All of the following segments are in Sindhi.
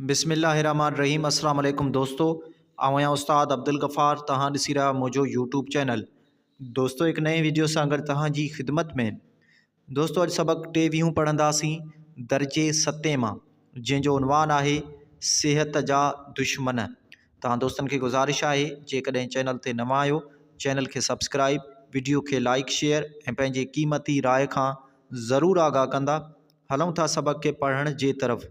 بسم الله الرحمٰن الرحيم اسلام عليڪم دوستو آئون آهيان استاد عبدالغفار توهان ڏسي رهيا منهنجو يوٽيوب چينل دوستو هڪ نئين ويڊيو سان گڏ توهان جي خدمت ۾ دوستو اڄ سبق ٽيويهون پڙهنداسين درجي ستين مان جنهن جو عنوان آهي صحت جا دشمن توهان دوستن کي گذارش آهي جيڪڏهن چينل تي نوان آهيو چينل کي سبسڪرائب ويڊيو کي لائڪ شيئر ۽ پنهنجي قيمتي راء کان ضرور آگاهه ڪندا هلون ٿا سبق کي پڙهڻ جي طرف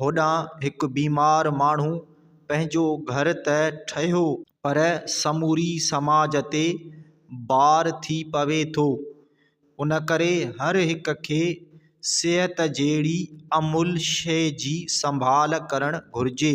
هوڏانهن هڪ بيمار ماڻهو پنهنجو گهر ته ٺهيو پر سموري سماج تي بار ٿي پوي ٿو. ان ڪري هر هڪ کي صحت جهڙي املهه شيء جي سنڀال ڪرڻ گهرجي.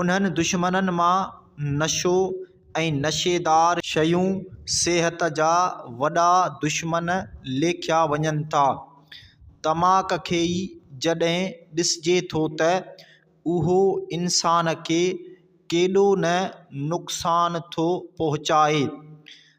انهن دشمنن مان نشو ۽ نشيدار شيون صحت جا وڏا دشمن ليکيا وڃن ٿا. تماڪ کي ئي جڏهن ڏسجي ٿو ته اهو انسان کي ڪيڏو نه نقصان ٿو پهچائي.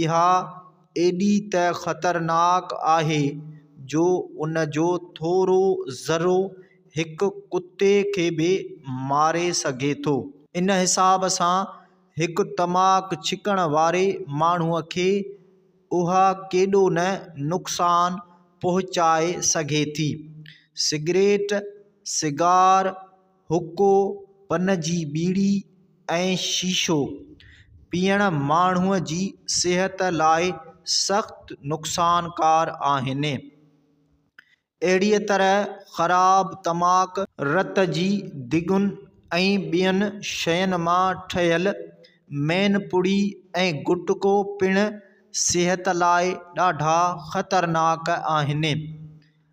اها ايڏي ته خطرناڪ آهي جو ان جو ٿورو ذرو هڪ ڪتي کي به ماري سگهي ٿو. ان حساب سان هڪ تماڪ ڇڪڻ واري ماڻهوء کي اها ڪيڏو نه نقصان پهچائي سگهي ٿي. سگريٽ، سگار، حقو، پن جي ٻيڙي ۽ شيشو پيئڻ ماڻهوء جي صحت لاء سخت نقصانڪار آهن. اهڙيء طرح خراب تماڪ، رت جي دڳن ۽ ٻين شين مان ٺهيل مين پڙي ۽ گٽڪو پڻ صحت لاء ڏاڍا خطرناڪ آهن.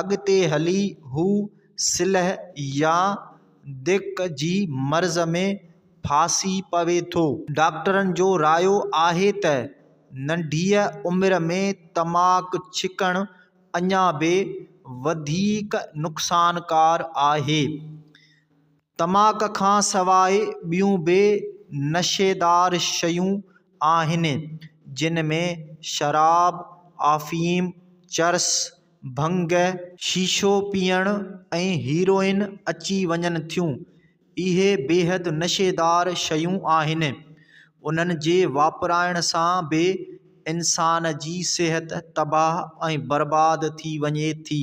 اڳتي هلي هو سلهه يا ديڪ جي مرض ۾ ڦاسي پوي ٿو. ڊاڪٽرن جو رايو آهي ته ننڍيء عمر ۾ تماڪ ڇڪڻ اڃا به وڌيڪ نقصانڪار آهي. تماڪ کان سواء ٻيون به نشيدار شيون آهن، جن ۾ شراب، آفيم، چرس، ڀنگ، شيشو پيئڻ ۽ هيروئن اچي وڃن ٿيون، اهي بيحد نشيدار شيون آهن، انهن جي واپرائڻ سان به انسان جي صحت تباهه ۽ برباد ٿي وڃي ٿي،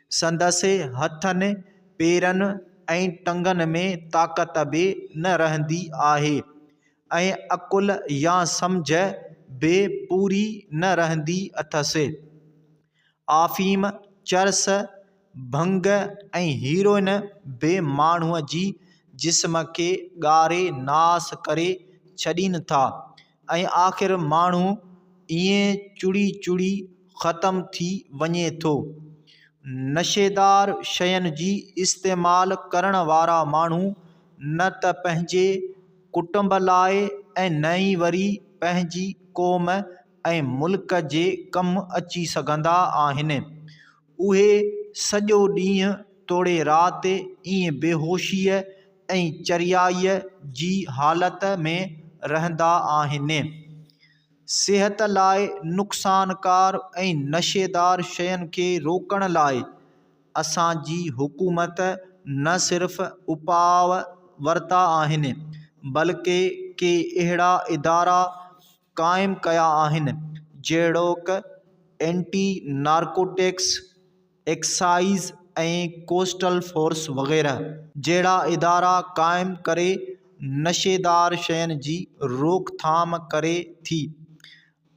سندس هٿن، پيرن ۽ ٽنگن ۾ طاقت به نه رهندي آهي ۽ عقل يا سمجهه به پوري نه رهندي اٿس. آفيم، چرس، ڀنگ ۽ هيروئن به ماڻهوء جي جسم کي ڳاري ناس ڪري ڇڏين ٿا. ۽ آخر ماڻهو ائين چڙي چڙي ختم ٿي وڃي ٿو نشيدار شين جي استعمال ڪرڻ وارا ماڻهو نه ته پنهنجي ڪٽنب لاء ۽ نه ئي وري پنهنجي قوم ۽ ملڪ جي ڪم اچي سگهندا آهن اهي سڄو ڏينهن توڙي رات ائين بيهوشيء ۽ چريائيء جي حالت ۾ رهندا آهن. صحت لاء نقصانڪار ۽ نشيدار شين کي روڪڻ لاء اسان جي حڪومت نه صرف اپاء ورتا آهن، بلڪه ڪي اهڙا ادارا، قائم ڪيا آهن جهڙوڪ anti narcotics, excise ۽ coastal force وغيره جهڙا ادارا قائم ڪري نشيدار شين جي روڪ ٿام ڪري ٿي.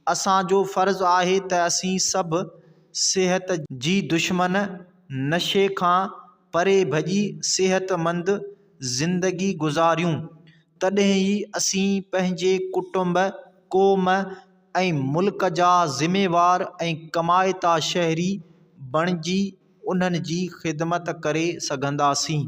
اسان جو فرض آهي ته اسين سڀ صحت جي دشمن نشي کان پري ڀڄي صحت مند زندگي گذاريون تڏهن ئي اسين پنهنجي ڪٽنب، قوم ۽ ملڪ جا ذميوار ۽ ڪمائتا شهري بڻجي انهن جي خدمت ڪري سگهنداسين.